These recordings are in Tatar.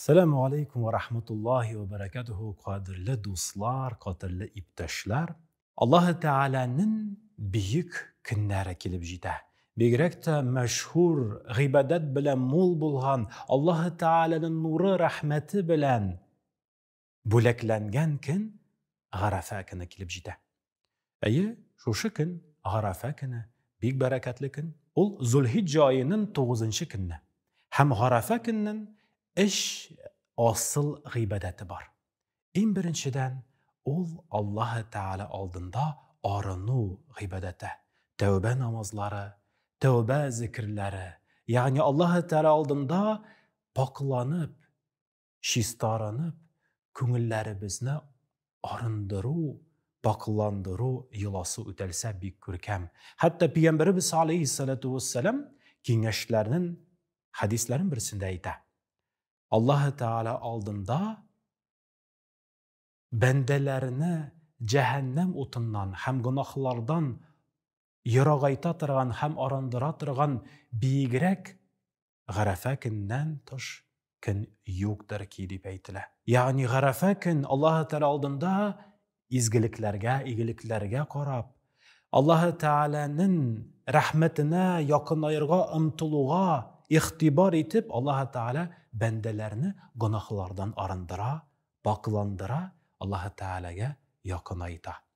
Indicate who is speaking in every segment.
Speaker 1: Сәләму алейкум ва рахматуллахи ва баракатуху, кадерле дуслар, кадерле иптәшләр. Аллаһы Тәгаләнең бөек көннәре килеп җитә. Бигрәк тә мәшһүр, гыйбадәт белән мул булган, Аллаһы Тәгаләнең нуры, рәхмәте белән Бүләкләнгән көн Гарәфә көне килеп җитә. Әйе, шушы көн, Гарәфә көне, бик бәрәкәтле көн. Ул Зулхиҗҗа аеның 9 көнне. Һәм Гарәфә көннен эш асыл гыйбадәте бар. Иң беренчедән, ул Аллаһы Тәгалә алдында арыну гыйбадәте, тәүбә намазлары, тәүбә зикерләре, ягъни Аллаһы Тәгалә алдында пакъланып, чистарынып, күңелләребезне арындыру, пакъландыру йоласы үтәлсә бик күркәм. Хәтта Пигамбәребез алейһиссалату вәссәлам киңәшләрнен хәдисләрен берсендә әйтә. Аллаһы Тәгалә алдында бәндәләрне җәһәннәм утыннан һәм гөнаһлардан ерагайта торган һәм арындыра торган биегрәк Гарәфә көннән тыш көн юктыр ки, дип әйтелә. Ягъни Гарәфә көн Аллаһы Тәгалә алдында изгелекләргә, игелекләргә карап, Аллаһы Тәгаләнең рәхмәтенә якынаерга омтылуга игътибар итеп, Аллаһы Тәгалә бәндәләрне гөнаһлардан арындыра, пакъландыра, Аллаһы Тәгаләгә якынайта.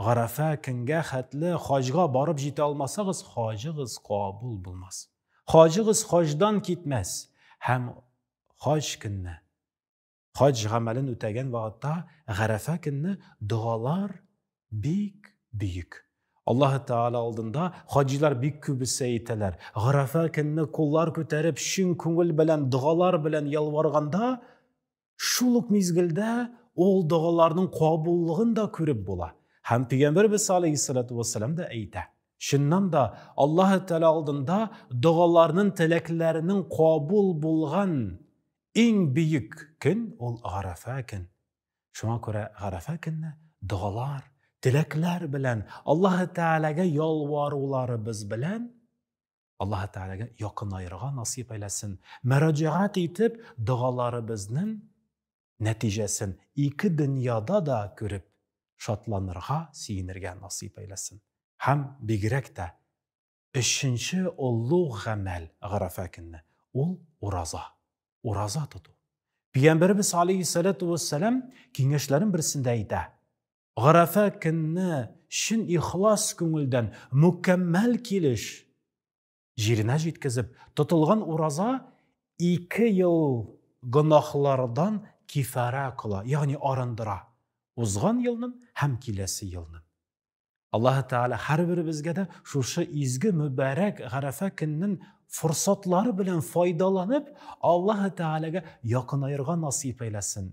Speaker 1: Гарәфә көнгә хәтле хаҗга барып җитә алмасагыз, хаҗыгыз кабул булмас. Хаҗыгыз хаҗдан китмәс һәм хаҗ көнне хаҗ гамәлен үтәгән вакытта Гарәфә көнне догалар бик бөек. Аллаһ Тәгалә алдында хаҗилар бик күп исә итәләр. Гарәфә көнне куллар күтәреп, чын күңел белән, догалар белән ялварганда, Шул ук мизгелдә ул догаларның кабуллыгын да күреп була. Һәм пәйгамбәрбез саллаллаһу вассалам да әйтә. Чыннан да Аллаһ Тәгалә алдында догаларның, теләкләрнең кабул булган иң бөек көн ул Арафа көн. Шуңа күрә Арафа көнне догалар, теләкләр белән Аллаһ Тәгаләгә ялваруларыбыз белән Аллаһы Тәгаләгә якынаерга насыйп әйләсен. Мөрәҗәгать итеп, догаларыбызның нәтиҗәсен ике дөньяда да күреп, шатланырга, сөенергә насыйп әйләсен. Һәм бигрәк тә өченче олуг гамәл Графа көнне, ул ураза. Ураза тоту. Пәйгамбәребез алейһиссәләтү вәссәлам киңәшләрен берсендә әйтә. Гарәфә көнне чын ихлас күңелдән мөкәммәл килеш җиренә җиткезеп тотылган ураза ике ел гөнаһлардан кифарә кыла, ягъни арындыра. Узган елнын һәм киләсе елнын. Аллаһы Тәгалә һәрберебезгә дә шушы изге мөбарәк Гарәфә көннен форсатлары белән файдаланып, Аллаһы Тәгаләгә якынаерга насыйп әйләсен.